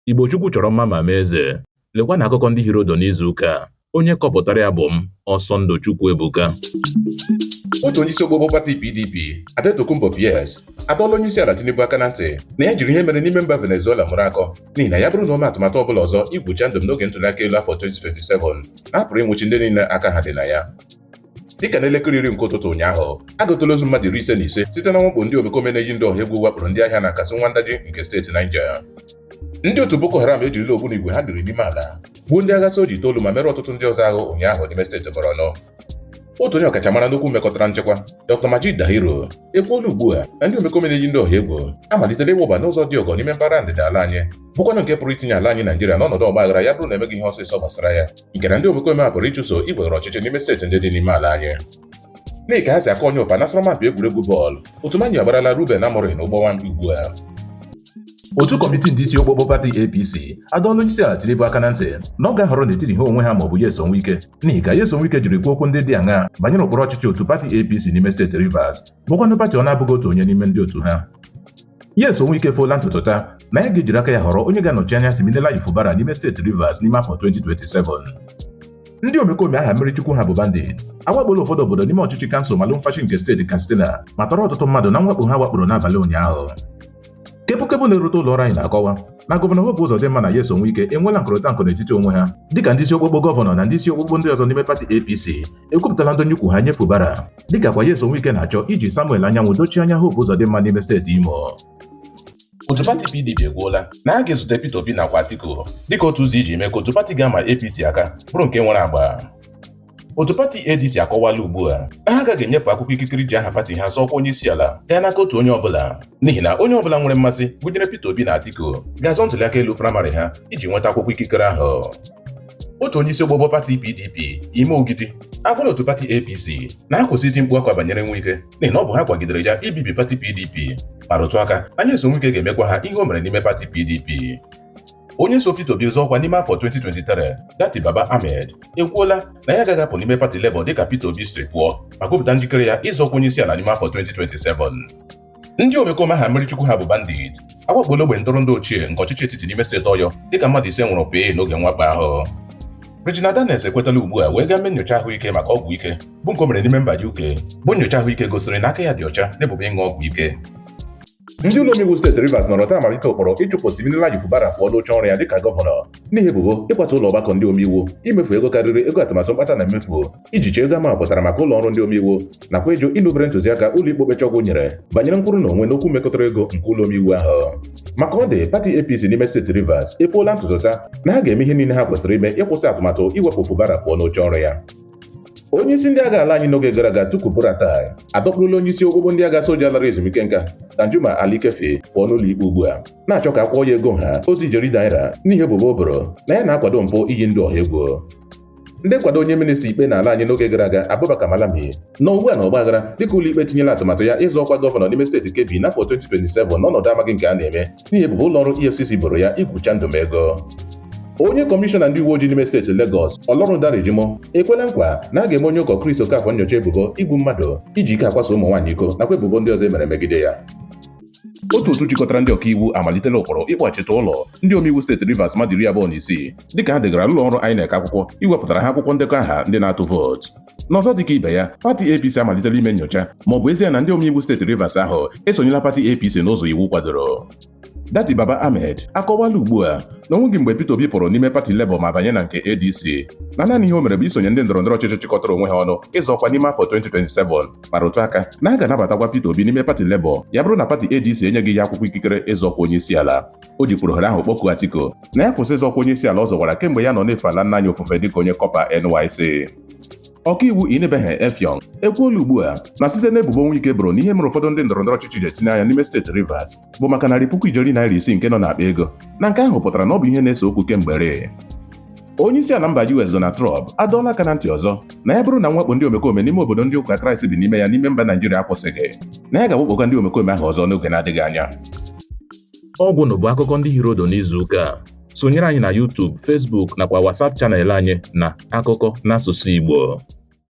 Igbo Chukwu chọrọ mma ma mee eze. Lekwanụ akụkọ ndị hiri ụdụ n'izu ụka a. Onye kọpụtara ya bụ m, Ọsọndụ Chukwuebuka. otu onye isi okpokpo pati PDP Adetokunbo Pearse adọọla onye isi ala Tinubu aka na ntị na ya jiri ihe mere n'ime mba Venezuela mụrụ akọ n'ihi na ya bụrụ na o mee atụmatụ ọbụla ọzọ igwu chandum n'oge ntụliaka elu afọ 2027 na a pụrụ ịnwụchi ndị niile aka ha dị na ya dịka n'elekere iri nke ụtụtụ ụnyaahụ agụtala ozu mmadụ iri ise na ise site na mwakpo ndị omekome na-eyi ndị ọha egwu wakporo ndị ahịa na Kasuwan Daji nke steeti Niger ndị otu Boko Haram ejirila ogbunigwe ha liri n'ime ala gbuo ndị agha soja itoolu ma merụọ ọtụtụ ndị ọzọ ahụ ụnyaahụ n'ime steeti Borno otu onye ọkachamara n'okwu mekọtara nchekwa Dr. Majeed Dahiru ekwuola ugbu a na ndị omekome na-eyi ndị ọha egwu amalitela ịwụba n'ụzọ dị ọgọ n'ime mpaghara ndịda ala anyị bụkwanụ nke pụrụ itinye ala anyị Naijiria n'ọnọdụ ọgbaghara ya bụrụ na e meghị ihe ọsịsọ gbasara ya nke na ndị omekome a pụrụ ịchụso iwere ọchịchị n'ime steeti ndị dị n'ime ala anyị n'ihi ka ha si aka onye ụpa n'asọrọmmpi egwuregwu bọọlụ otu Man U agbarala Ruben Amorim ụgbọ nwamkpi ugbu a otu kọmitii ndị isi okpokpo pati APC adọọla onye isi ala Tinubu aka na ntị na ọ ga-ahọrọ n'etiti ha onwe ha ma ọ bụ Nyesom Wike n'ihi ka Nyesom Wike jiri kwuo okwu ndị dị aṅaa banyere ụkpụrụ ọchịchị otu pati APC n'ime steeti Rivers bụkwanụ pati ọ na-abụghị otu onye n'ime ndị otu ha Nyesom Wike foola ntutu taa na ya ga-ejiri aka ya họrọ onye ga-anọchi anya Siminalayi Fubara n'ime steeti Rivers n'ime afọ 2027 ndị omekome aha mmiri chukwu ha bụ bandit awakpola ụfọdụ obodo n'ime ọchịchị kansụl Malumfashi nke steeti Katsina ma tọrọ ọtụtụ mmadụ na mwakpo ha wakporo n'abalị ụnyaahụ kepukepu na-erute ụlọ ọrụ anyị na-akọwa na gọvanọ Hope Uzodimma na Nyesom Wike enweela nkụrịta nkụ n'etiti onwe ha dịka ndị isi okpokpo gọvanọ na ndị isi okpokpo ndị ọzọ n'ime pati APC ekwupụtala ndọnye ukwu ha nye Fubara dịka kwa Nyesom Wike na-achọ iji Samuel Anyanwụ dochie anya Hope Uzodimma n'ime steeti Imo otu pati PDP ekwuola na a ga-ezute Peter Obi nakwa Atiku dịka otu ụzọ iji mee ka otu pati ga-ama APC aka bụrụ nke nwere agba otu pati ADC akọwala ugbu a na ha agaghị enyepụ akwụkwọ ikikere iji aha pati ha zọọ ọkwa onye isi ala gaa n'aka otu onye ọbụla n'ihi na onye ọbụla nwere mmasị gụnyere Peter Obi na Atiku ga-azọ ntụliaka elu praịmarị ha iji nweta akwụkwọ ikikere ahụ otu onye isi okpokpo pati PDP Emma Ogidi agwala otu pati APC na ha kwụsị iti mkpu akwa banyere Wike n'ihi na ọ bụ ha kwagidere ya ibibi pati PDP ma rụtụ aka na Nyesom Wike ga-emekwa ha ihe o mere n'ime pati PDP onye so Peter Obi zọọ ọkwa n'ime afọ 2023 Datti Baba Ahmed ekwuola na ya agaghị apụ n'ime pati Labour dịka Peter Obi siri pụọ ma kwupụta njikere ya ịzọ ọkwa onye isi ala n'ime afọ 2027 ndị omekome aha mmiri chukwu ha bụ bandit awakpola ogbe ntụrụndụ ochie nke ọchịchị etiti n'ime steeti Ọyọ dịka mmadụ ise nwụrụ pịị n'oge mwakpo ahụ Regina Daniels ekwetala ugbu a wee gaa mee nyocha ahụike maka ọgwụ ike bụ nke o mere n'ime mba UK bụ nyocha ahụike gosiri na aka ya dị ọcha n'ebubo ịṅụ ọgwụ ike ndị ụlọ omeiwu steeti Rivers nọrọ taa malite ụkpụrụ ịchụpụ Siminalayi Fubara pụọ n'oche ọrụ ya dịka gọvanọ n'ihi ebubo ịkwatu ụlọ ọgbakọ ndị omeiwu imefu ego karịrị ego atụmatụ mkpata na mmefu ijichi ego a mapụtara maka ụlọ ọrụ ndị omeiwu nakwa ịjụ ịnụbere ntụziaka ụlọ ikpe okpecha ọgwụ nyere banyere nkwụrụ na onwe n'okwu mekọtara ego nke ụlọ omeiwu ahụ ma ka ọ dị pati APC n'ime steeti Rivers efoola ntutu taa na ha ga-eme ihe niile ha kwesịrị ime ịkwụsị atụmatụ iwepụ Fubara pụọ n'oche ọrụ ya onye isi ndị agha ala anyị n'oge gara aga Tukur Buratai adọkpụrụla onye isi ogbogbo ndị agha soja lara ezumike nka Danjuma Ali Keffi pụọ n'ụlọ ikpe ugbu a na-achọ ka a kwụọ ya ego ha otu ijeri naira n'ihi ebubo o boro na ya na-akwado mpụ iyi ndị ọha egwu ndị nkwado onye minista ikpe n'ala anyị n'oge gara aga Abubakar Malami nọ ugbu a na ọgbaghara dịka ụlọikpe tinyela atụmatụ ya ịzọ ọkwa gọvanọ n'ime steeti Kebbi n'afọ 2027 n'ọnọdụ amaghị nke a na-eme n'ihi ebubo ụlọ ọrụ EFCC boro ya igwu chandum ego onye kọmishọna ndị uwe ojii n'ime steeti Lagos Olorundare Jimoh ekwela nkwa na a ga-eme onye ụkọ Chris Okafor nyocha ebubo igbu mmadụ iji ike akwaso ụmụ nwaanyị iko nakwa ebubo ndị ọzọ e mere megide ya otu otu jikọtara ndị ọkaiwu amalitela ụkpụrụ ịkpọghachite ụlọ ndị omeiwu steeti Rivers mmadụ iri abụọ na isii dịka ha degara ụlọ ọrụ INEC akwụkwọ iwepụtara ha akwụkwọ ndekọ aha ndị na-atụ vootu n'ọzọ dịka ibe ya pati APC amalitela ime nyocha ma ọ bụ ezie na ndị omeiwu steeti Rivers ahụ esonyela pati APC n'ụzọ iwu kwadoro Datti Baba Ahmed akọwala ugbu a na o nweghị mgbe Peter Obi pụrụ n'ime pati Labour ma banye na nke ADC na naanị ihe o mere bụ isonye ndị ndọrọndọrọ ọchịchị chịkọtara onwe ha ọnụ ịzọ ọkwa n'ime afọ 2027 ma rụtụ aka na a ga-anabatakwa Peter Obi n'ime pati Labour ya bụrụ na pati ADC enyeghị ya akwụkwọ ikikere ịzọ ọkwa onye isi ala o jikwuru ohere ahụ kpọkuo Atiku na ya kwụsị ịzọ ọkwa onye isi ala ọ zọwara kemgbe ya nọ na-efe ala nna anyị ofufe dịka onye kọpa NYC ọkaiwu Inibehe Effiong ekwuola ugbu a na site n'ebubo Nwike boro na ihe mere ụfọdụ ndị ndọrọndọrọ ọchịchị ji etinye anya n'ime steeti Rivers bụ maka narị puku ijeri naira isii nke nọ n'akpa ego na nke ahụ pụtara na ọ bụ ihe na-ese okwu kemgbe rịị onye isi ala mba US Donald Trump adọọla aka na ntị ọzọ na ya bụrụ na mwakpo ndị omekome n'ime obodo ndị ụka Kraịst bi n'ime ya n'ime mba Naijiria akwụsịghị na ya ga-awakpokwa ndị omekome ahụ ọzọ n'oge na-adịghị anya ọ gwụla bụ akụkọ ndị hiri ụdụ n'izu ụka a. sonyere anyị na YouTube, Facebook nakwa WhatsApp channel anyị na akụkọ n'asụsụ Igbo